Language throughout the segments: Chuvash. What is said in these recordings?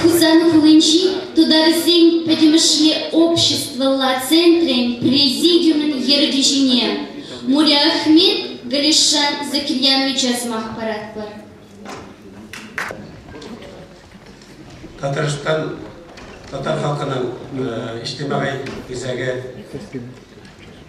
Хусан хулинчи тутарсен пӗтӗмӗшле обществӑлла центрӗн президиумӗн ертӳҫине Муриахмет Галишан Закирьяновича сӑмах паратпӑр. Татарстан татар халкының ӗҫлеме исәге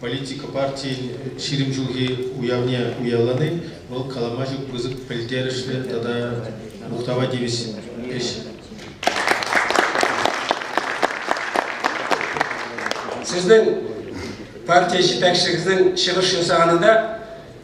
Политика партийӗн ҫирӗм ҫулхи уявне уявлани вӑл калама ҫук пысӑк пӗлтерӗшлӗ тата мухтава тивӗҫ ӗҫ. Сезнең партия җитәкчелегенең чыгышын саганында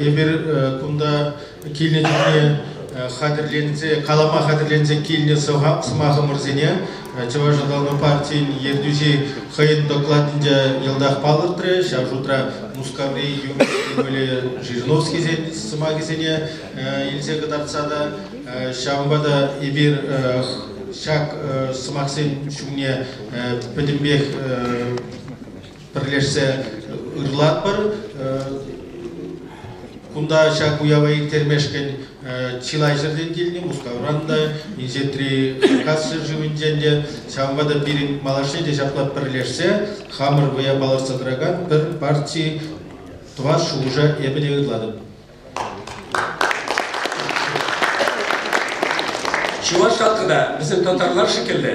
Эпир кунта килнӗ чухне хатӗрленсе, калама хатӗрленсе килнӗ сӑмахӑмӑрсене Чӑваш аталану партийӗн ертӳҫи хӑйӗн докладӗнче йӑлтах палӑртрӗ. Ҫав шутра Мускаври Юрский вӑйлӑ Жириновскисен сӑмахӗсене илсе кӑтартса та, ҫавӑнпа та эпир ҫак сӑмахсен ҫумне пӗтӗмпех пӗрлешсе ырлатпӑр. Кунта ҫак уява ирттермешкӗн чылайҫӗртен килнӗ Мускавран та, Инҫетри Кавказ ҫӗршывӗнчен те, ҫавӑнпа та пирӗн малашне те ҫапла пӗрлешсе хамӑр вӑя палӑртса тӑракан пӗр парти тӑвас шухӑша эпӗ те ырлатӑп. Чӑваш халкӗ та, вӗсем татарлар шикеллӗ.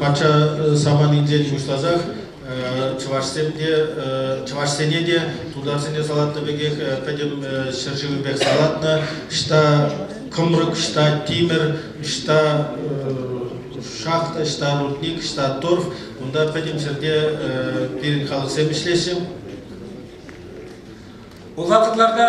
Патша саманинчен пуҫласах чӑвашсем те, чӑвашсене те, тутарсене салатнӑ пекех пӗтӗм ҫӗршывӗпех салатнӑ. Ӑҫта кӑмрӑк, ӑҫта тимӗр, ӑҫта шахта, ӑҫта рудник, ӑҫта торф, унта пӗтӗм ҫӗрте пирӗн халӑхсем ӗҫлеҫҫӗ. Улатӑрларта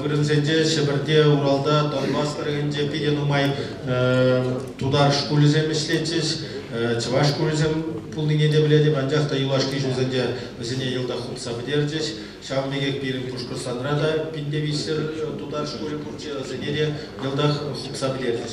Вырӑнсенче Ҫӗпӗрте, Уралта, Донбасс тӑрӑхӗнче питӗ нумай тутар шкулӗсем ӗҫлетчӗҫ. Чӑваш шкулӗсем пулнине те пӗлетӗп, анчах та юлашки ҫулсенче вӗсене йӑлтах хупса пӗтерчӗҫ. Ҫавӑн пекех пирӗн Пушкӑртстанра та пин те виҫсӗр тутар шкулӗ пурччӗ, вӗсене те йӑлтах хупса пӗтерчӗҫ.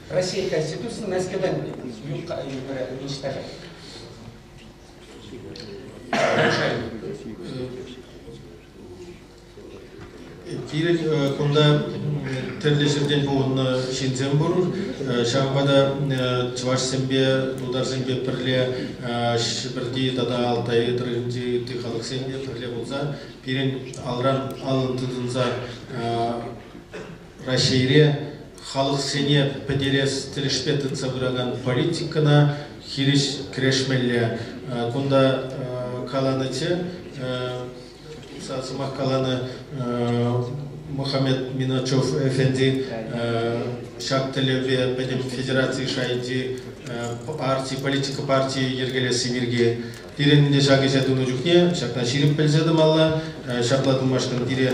Россия Конституцин мәскәүдән ниҫтаҫа. Пирӗн кунта тӗрлӗ ҫӗртен пухӑннӑ ҫынсем пур. Ҫавӑнпа та чӑвашсемпе, тутарсемпе пӗрле Ҫӗпӗрти тата Алтай тӑрӑхӗнчи ытти халӑхсем те пӗрле пулса пирӗн алран аллӑн тытӑнса Раҫҫейре халӑхсене пӗтерес тӗлӗшпе тытса пыракан политикӑна хирӗҫ кӗрешмелле. Кунта каланӑччӗ, сӑмах каланӑ Мухаммед Миначев эфенди ҫак тӗллевпе пӗтӗм федераци шайӗнчи парти, политика партийӗ йӗркелесси пирки. Пирӗн ӗнтӗ ҫак ӗҫе тунӑ чухне ҫакна ҫирӗп пӗлсе тӑмалла, ҫапла тумашкӑн пире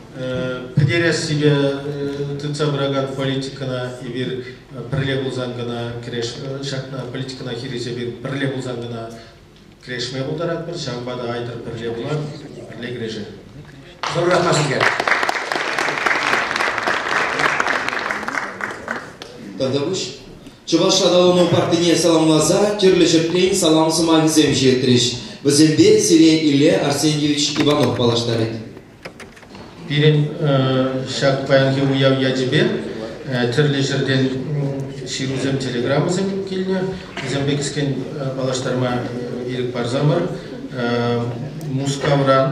пӗтерессипе тытса пыракан политикӑна эпир пӗрле пулсан кӑна кӗреш ҫакна политикӑна хирӗҫ эпир пӗрле пулсан кӑна кӗрешме пултаратпӑр ҫавӑнпа та айтӑр пӗрле пулар пӗрле кӗрешер. Зуррах маскер. Тӑтӑмӑш Чӑваш аталану партине саламласа тӗрлӗ ҫӗртен салам сӑмахӗсем ҫитрӗҫ. Вӗсемпе сире Илле Арсеньевич Иванов паллаштарать. Пирӗн ҫак паянхи уяв ячӗпе тӗрлӗ ҫӗртен ҫырусем, телеграммӑсем килнӗ. Вӗсемпе кӗскен паллаштарма ирӗк парсамӑр Мускавран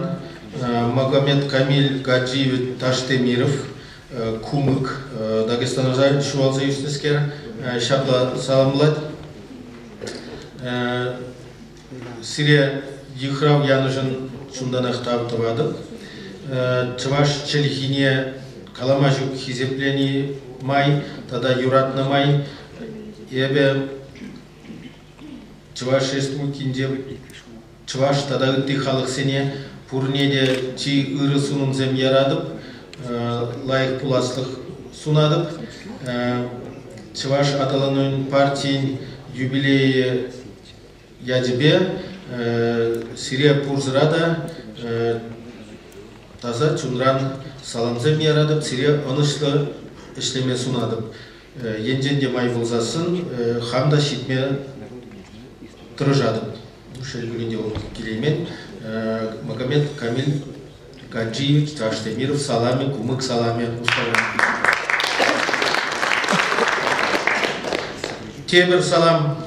Магомед Камиль Гаджиев Таштемиров Кумык Дагестанӑша ҫуралса ӳснӗскер ҫапла саламлать. Сире йыхрав янӑшӑн чунтанах тав тӑватӑп. Чӑваш чӗлхине калама ҫук хисеплени май тата юратнӑ май эпӗ Чӑваш Республикинче чӑваш тата ытти халӑхсене пурне те чи ырӑ сунӑмсем яратӑп, лайӑх пуласлӑх сунатӑп. Чӑваш аталанӑвӗн партийӗн юбилейӗ ячӗпе сире пурсӑра та таса чунран саламсем яратӑп, сире ӑнӑҫлӑ ӗҫлеме сунатӑп. Енчен те май пулсассӑн хам та ҫитме тӑрӑшатӑп. Шел пулин те, ол килеймен. Магомед Камиль Гаджи Чӑваш Темир саламӗ, кумык саламӗ устава. Тепӗр салам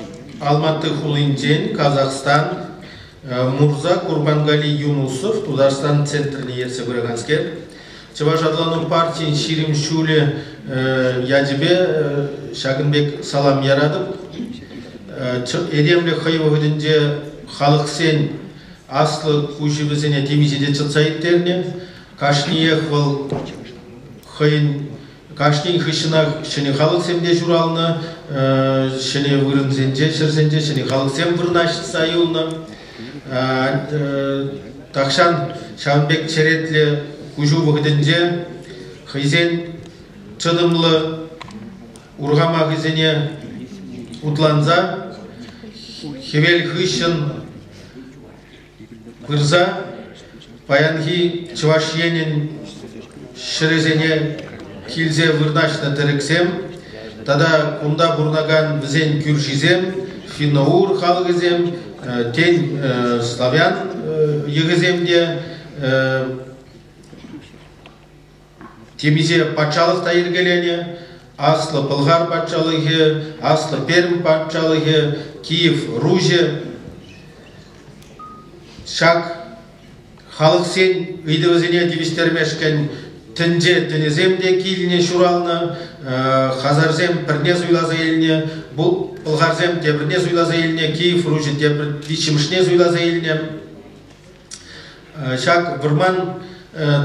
Алматы хулинчен Казахстан Мурза Курбангали Юнусов Тутарстан центрне ертсе пыраканскер. Чӑваш атлану партийӗн ҫирӗм ҫулӗ ячӗпе ҫакӑн пек салам яратӑп. Этемлӗх хӑй вӑхӑтӗнче халӑхсен Аслӑ хуҫи вӗсене темиҫе те чӑтса ирттернӗ. Кашниех вӑл хӑйӗн кашнин хыҫҫӑнах ҫӗнӗ халӑхсем те ҫуралнӑ, ҫӗнӗ вырӑнсенче, ҫӗрсенче ҫӗнӗ халӑхсем вырнаҫса юлнӑ. Тахҫан ҫавӑн пек черетлӗ куҫу вӑхӑтӗнче хӑйсен чӑтӑмлӑ урхамахӗсене утланса хӗвел хыҫҫӑн Пырса паянхи Чӑваш Енӗн ҫӗрӗсене килсе вырнаҫнӑ тӗрӗксем тата кунта пурӑнакан вӗсен кӳршисем, финнаур халӑхӗсем, тен, славян йӑхӗсем те Темиҫе патшалӑх та йӗркеленӗ. Аслӑ Пӑлхар патшалӑхӗ, Аслӑ Пермь патшалӑхӗ, Киев, Руҫӗ. Ҫак халӑхсен ыйтӑвӗсене тивӗҫтермешкӗн тӗнче тӗнӗсем те килне ҫуралнӑ, хазарсем пӗрне суйласа илнӗ, пӑлхарсем тепӗрне суйласа илнӗ, Киев Руҫӗ тепӗр виҫҫӗмӗшне суйласа илнӗ. Ҫак вӑрман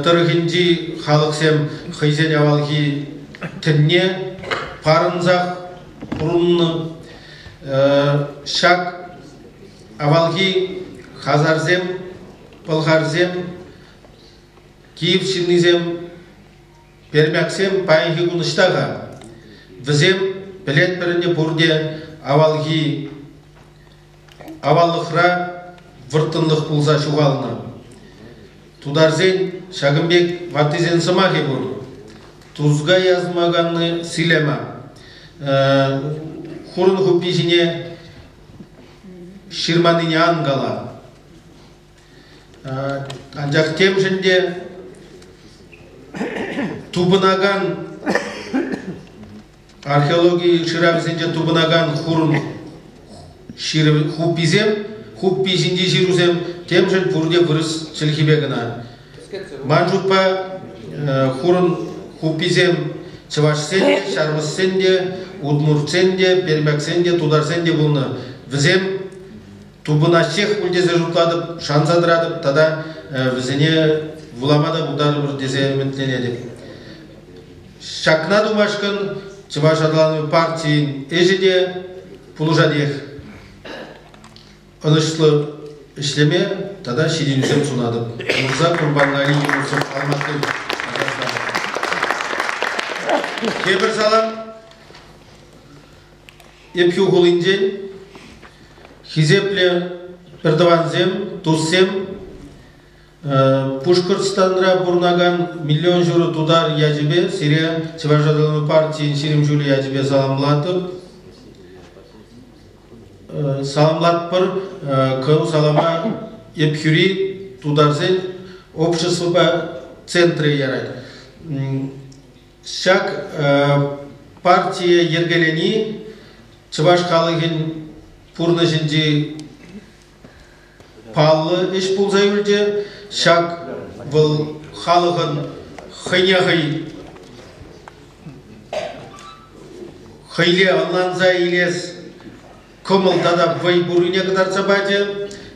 тӑрӑхӗнчи халӑхсем хӑйсен авалхи тӗнне парӑнсах пурӑннӑ. Ҫак авалхи хазарсем, пӑлхарсем, киев ҫыннисем, пермяксем паянхи кун ӑҫта-ха? Вӗсем пӗлетпӗр ӗнтӗ пурте авалхи Аваллӑхра вӑрттӑнлӑх пулса ҫухалнӑ. Тутарсен ҫакӑн пек ваттисен сӑмахӗ пур. Тузга язмаканни силема. Хурӑн хуппи ҫине ҫырманнине ан кала. Анчах темшӗн те тупӑнакан Археологи шыравӗсенче тупӑнакан хурӑн хупписем, хуппи ҫинчи ҫырусем темшӗн пурте вырӑс чӗлхипе кӑна. Ман шутпа, хурӑн хупписем чӑвашсен те, ҫармӑссен те, удмуртсен те, пермяксен те, тутарсен те пулнӑ. Вӗсем тупӑнаҫҫех пуль тесе шутлатӑп, шанса тӑратӑп тата вӗсене вулама та пултарӑпӑр тесе ӗмӗтленетӗп. Ҫакна тумашкӑн Чӑваш аталанӑвӗ партийӗн ӗҫӗ те пулӑшатех. Ӑнӑҫлӑ ӗҫлеме тата ҫитӗнӳсем сунатӑп. Мурза Курбангалин Юсуф Алмашин, Казахстан. Тепӗр салам Епхӳ хулинчен хисеплӗ пӗртӑвансем, туссем, Пушкӑртстанра пурӑнакан миллион ҫурӑ тутар ячӗпе сире Чӑваш аталану партийӗн ҫирӗм ҫулӗ ячӗпе саламлатӑп. Саламлатпӑр кӑл салама Епхӳри тутарсен обществӑпа центрӗ ярать. Ҫак партие йӗркелени чӑваш халӑхӗн пурнӑҫӗнчи Паллӑ ӗҫ пулса юлчӗ ҫак вӑл халӑхӑн хӑйне хӑй хӑйле ӑнланса илес кӑмӑл тата вӑй пуррине кӑтартса пачӗ,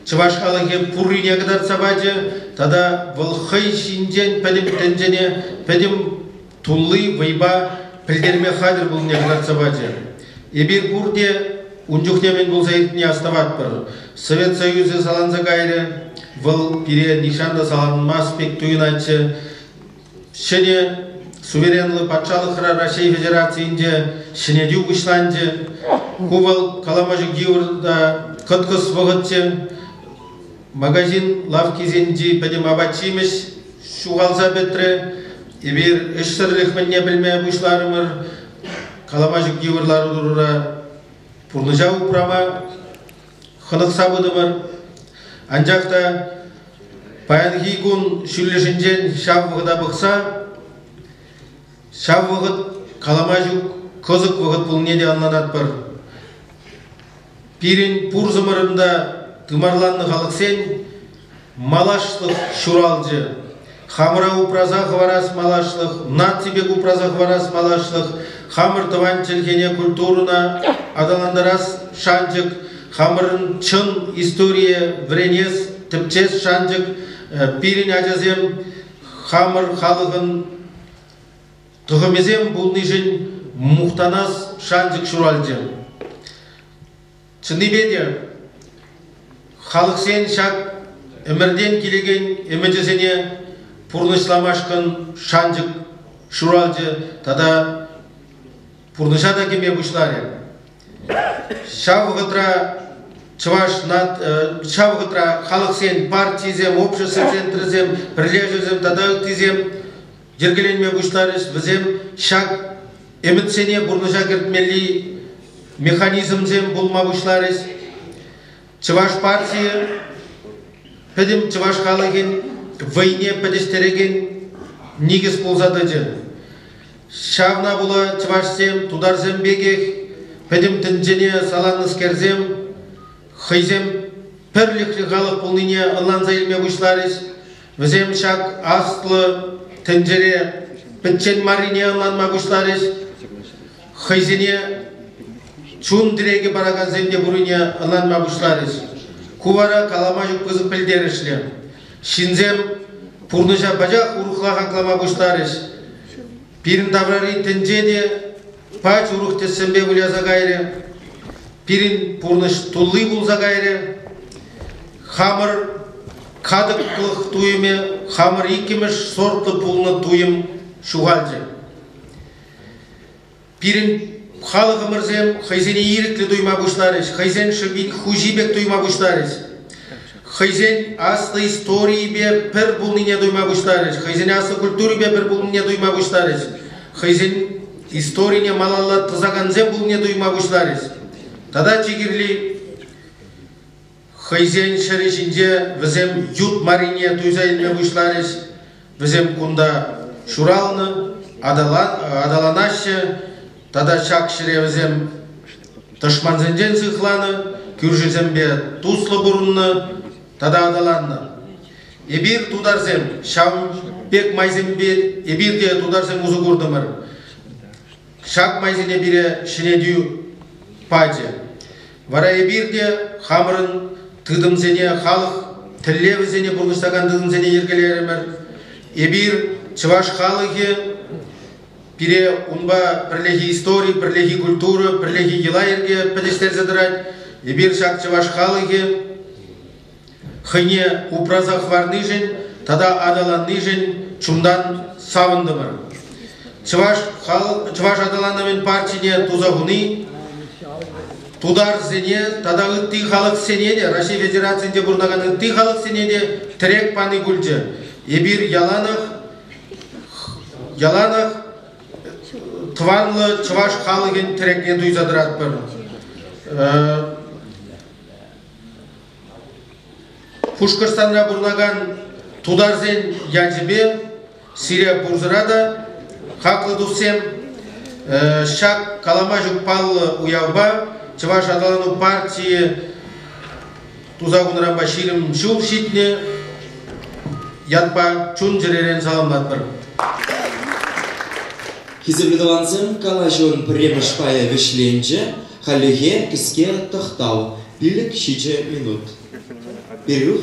чӑваш халӑхӗ пуррине кӑтартса пачӗ тата вӑл хӑй ҫинчен пӗтӗм тӗнчене, пӗтӗм тулли вӑйпа пӗлтерме хатӗр пулнине кӑтартса пачӗ. Эпир пурте ун чухне мӗн пулса иртнине астӑватпӑр. Совет Союзӗ саланса кайрӗ. Вӑл пире нихҫан та саланмасть пек туйӑнатчӗ. Ҫӗнӗ суверенлӑ патшалӑхра Раҫҫей Федерацийӗнче ҫӗнетӳ пуҫланчӗ. Ку вӑл калама ҫук йывӑр та кӑткӑс вӑхӑтчӗ. магазин лавккисенчи пӗтӗм апат-ҫимӗҫ ҫухалса пӗтрӗ. Эпир ӗҫсӗрлӗх мӗнне пӗлме пуҫларӑмӑр. Каламачӑк йывӑр лару-тӑрура пурнӑҫа упрама хӑнӑхса пытӑмӑр. Анчах та паянхи кун ҫӳллӗшӗнчен ҫав вӑхӑта пӑхса ҫав вӑхӑт калама ҫук кӑсӑк вӑхӑт пулнине те ӑнланатпӑр. Пирӗн пурсӑмӑрӑн та тымарланнӑ халӑхсен малашлӑх ҫуралчӗ. Хамӑра упраса хӑварас малашлӑх, наци пек упраса хӑварас малашлӑх, хамӑр тӑван чӗлхене, культурӑна аталантарас шанчӑк, хамӑрӑн чӑн историе вӗренес, тӗпчес шанчӑк пирӗн ачасем хамӑр халӑхӑн Тӑхӑмӗсем пулнишӗн мухтанас шанчӑк ҫуралчӗ. Чӑннипе те, халӑхсен ҫак ӗмӗртен килекен ӗмӗчӗсене пурнӑҫламашкӑн шанчӑк ҫуралчӗ тата пурнӑҫа та кӗме пуҫларӗ. Ҫав вӑхӑтра чӑваш э, ҫав вӑхӑтра халӑхсен партийӗсем, общество центрӗсем, пӗрлешӗвӗсем тата ыттисем йӗркеленме пуҫларӗҫ. Вӗсем ҫак ӗмӗтсене пурнӑҫа кӗртмелли механизмсем пулма пуҫларӗҫ. Чӑваш партийӗ пӗтӗм чӑваш халӑхӗн вӑйне пӗтӗҫтерекен никӗс пулса тӑчӗ. Ҫавна пула чӑвашсем, тутарсем пекех пӗтӗм тӗнчене саланнӑскерсем хӑйсем пӗрлӗхлӗ халӑх пулнине ӑнланса илме пуҫларӗҫ. Вӗсем ҫак аслӑ тӗнчере пӗччен маррине ӑнланма пуҫларӗҫ. Хӑйсене чун тӗрекӗ паракансем те пуррине ӑнланма пуҫларӗҫ. Ку вара калама ҫук пысӑк пӗлтерӗшлӗ. Ҫынсем пурнӑҫа пачах урӑхла хаклама пуҫларӗҫ. Пирӗн таврари тӗнче те пач урӑх тӗссемпе выляса кайрӗ. Пирӗн пурнӑҫ тулли пулса кайрӗ. Хамӑр катӑклӑх туйӑмӗ, хамӑр иккӗмӗш сортлӑ пулнӑ туйӑм ҫухалчӗ. Пирӗн халӑхӑмӑрсем хӑйсене ирӗклӗ туйма пуҫларӗҫ, хӑйсен шӑпит хуҫи пек туйма пуҫларӗҫ. хӑйсен аслӑ историйӗпе пӗр пулнине туйма пуҫларӗҫ, хӑйсен аслӑ культурипе пӗр пулнине туйма пуҫларӗҫ, хӑйсен историне малалла тӑсакансем пулнине туйма пуҫларӗҫ. Тата чи кирли хӑйсен ҫӗрӗ ҫинче вӗсем ют марине туйса илме пуҫларӗҫ. Вӗсем кунта ҫуралнӑ, аталанаҫҫӗ тата ҫак ҫӗре вӗсем тӑшмансенчен сыхланӑ, кӳршисемпе туслӑ пурӑннӑ тата аталаннӑ. Эпир, тутарсем, ҫавӑн пек майсемпе эпир те тутарсем усӑ куртӑмӑр. Ҫак майсене пире ҫӗнетӳ пачӗ. Вара эпир те хамӑрӑн тытӑмсене, халӑх тӗллевӗсене пурнӑҫлакан тытӑмсене йӗркелерӗмӗр. Эпир, чӑваш халӑхӗ, пире унпа пӗрлехи истори, пӗрлехи культура, пӗрлехи йӑла-йӗрке пӗтӗҫтерсе тӑрать. Эпир ҫак чӑваш халӑхӗ хӑйне упраса хӑварнишӗн тата аталаннишӗн чунтан савӑнтӑмӑр. Чӑваш хал чӑваш аталанӑвӗн партине туса хуни тутарсене тата ытти халӑхсене те Раҫҫей Федерацийӗнче пурӑнакан ытти халӑхсене те тӗрек пани пулчӗ. Эпир яланах яланах тӑванлӑ чӑваш халӑхӗн тӗрекне туйса тӑратпӑр. Э, Пушкӑртстанра пурӑнакан тутарсен ячӗпе сире пурсӑра та хаклӑ туссем ҫак калама ҫук паллӑ уявпа Чӑваш аталану партийӗ туса хунӑранпа ҫирӗм ҫул ҫитнӗ ятпа чун-чӗререн саламлатпӑр. Хисеплӗ тӑвансем, калаҫӑвӑн пӗрремӗш пайӗ вӗҫленчӗ. Хальлӗхе кӗске тӑхтав, пилӗк-ҫичӗ минут. Пирюх